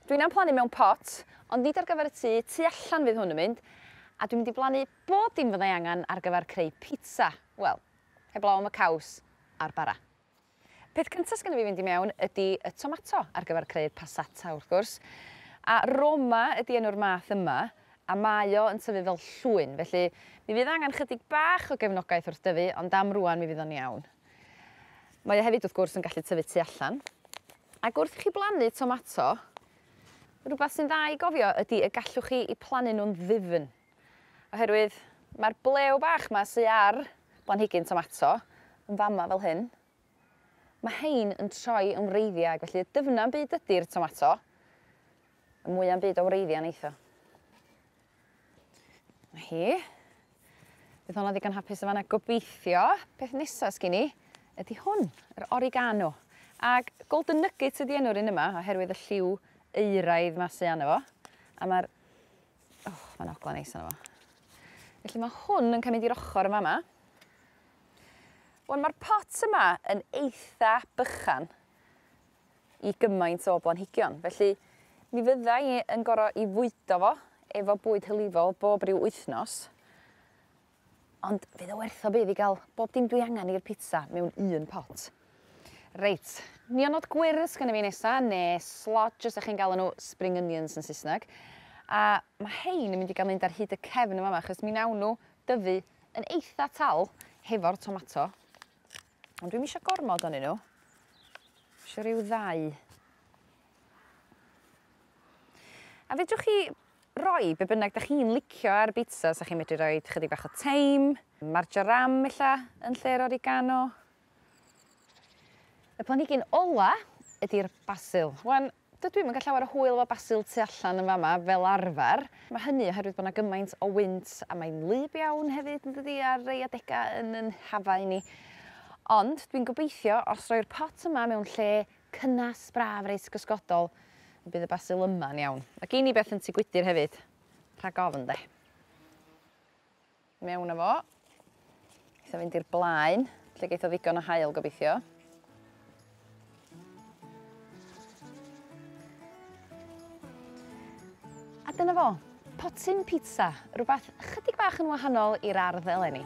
Dwi'n am plannu mewn pot, ond nid ar gyfer y tŷ, tu allan fydd hwn yn mynd, a dwi'n mynd i blannu bob dim fyddai angen ar gyfer creu pizza, wel, heblaw am y caws a'r bara. Peth cyntaf sgynno fi fynd i mewn ydi y tomato ar gyfer creu'r passata wrth gwrs, a Roma ydi enw'r math yma, a mae o yn tyfu fel llwyn, felly mi fydd angen chydig bach o gefnogaeth wrth dyfu, ond am rŵan mi fydd o'n iawn. Mae o hefyd wrth gwrs yn gallu tyfu tu allan. Ac wrth i chi blannu tomato, rhywbeth sy'n dda i gofio ydy y gallwch chi i plannu nhw'n ddifn. Oherwydd mae'r blew bach yma sy ar blanhigyn tomato yn fama fel hyn, mae hein yn troi yn wreiddiau ac felly y dyfnam byd ydy'r tomato, y mwya'm byd o wreiddiau neitho. 'Na hi. Bydd honno ddigon hapus yn fan 'na gobeithio. Peth nesa sgin i ydi hwn yr oregano ag golden nuggets ydi enw'r un yma oherwydd y lliw euraidd 'ma sy ano fo a ma'r o ma'n ogla neis ano fo. Felly ma' hwn yn ca' mynd i'r ochor yn fa' 'ma. Wan ma'r pot yma yn eitha bychan i gymaint o blanhigion, felly mi fydda i yn gor'o' 'i fwydo fo efo bwyd hylifol bob ryw wythnos, ond fydd o werth o bydd i ga'l bob dim dwi angan i'r pitsa mewn un pot. Reit, nionod gwyrdd sgenna fi nesa, ne' slodge os 'dach chi'n galw n'w spring onions yn Saesneg, a ma' 'hein yn mynd i ga'l mynd ar hyd y cefn yn fa' 'ma achos mi nawn n'w dyfu yn eitha tal hefo'r tomato. Ond dwi'm isio gormod onyn n'w. Isio ryw ddau. A fedrwch chi roi be' bynnag 'dach chi'n licio ar bitsa, sa chi'n medru roid chydig bach o teim, marjoram ella yn lle'r oregano. Y planhigyn ola ydi'r basil. Wan Dydw i'm yn cael llawer o hwyl efo basil tu allan yn fama fel arfer. Mae hynny oherwydd bod 'na gymaint o wynt a mae'n wlyb iawn hefyd yn dydi ar rei adegau yn yn hafau ni. Ond dwi'n gobeithio os roi'r pot yma mewn lle cynnes, braf, reit gysgodol y bydd y basil yma'n iawn. Mae gin i beth yn tŷ gwydyr hefyd, rhag ofn 'de. mewn â fo. Geith o fynd i'r blaen, lle geith o ddigon o haul gobeithio. A dyna fo, potyn pizza, rhywbeth chydig bach yn wahanol i'r ardd eleni.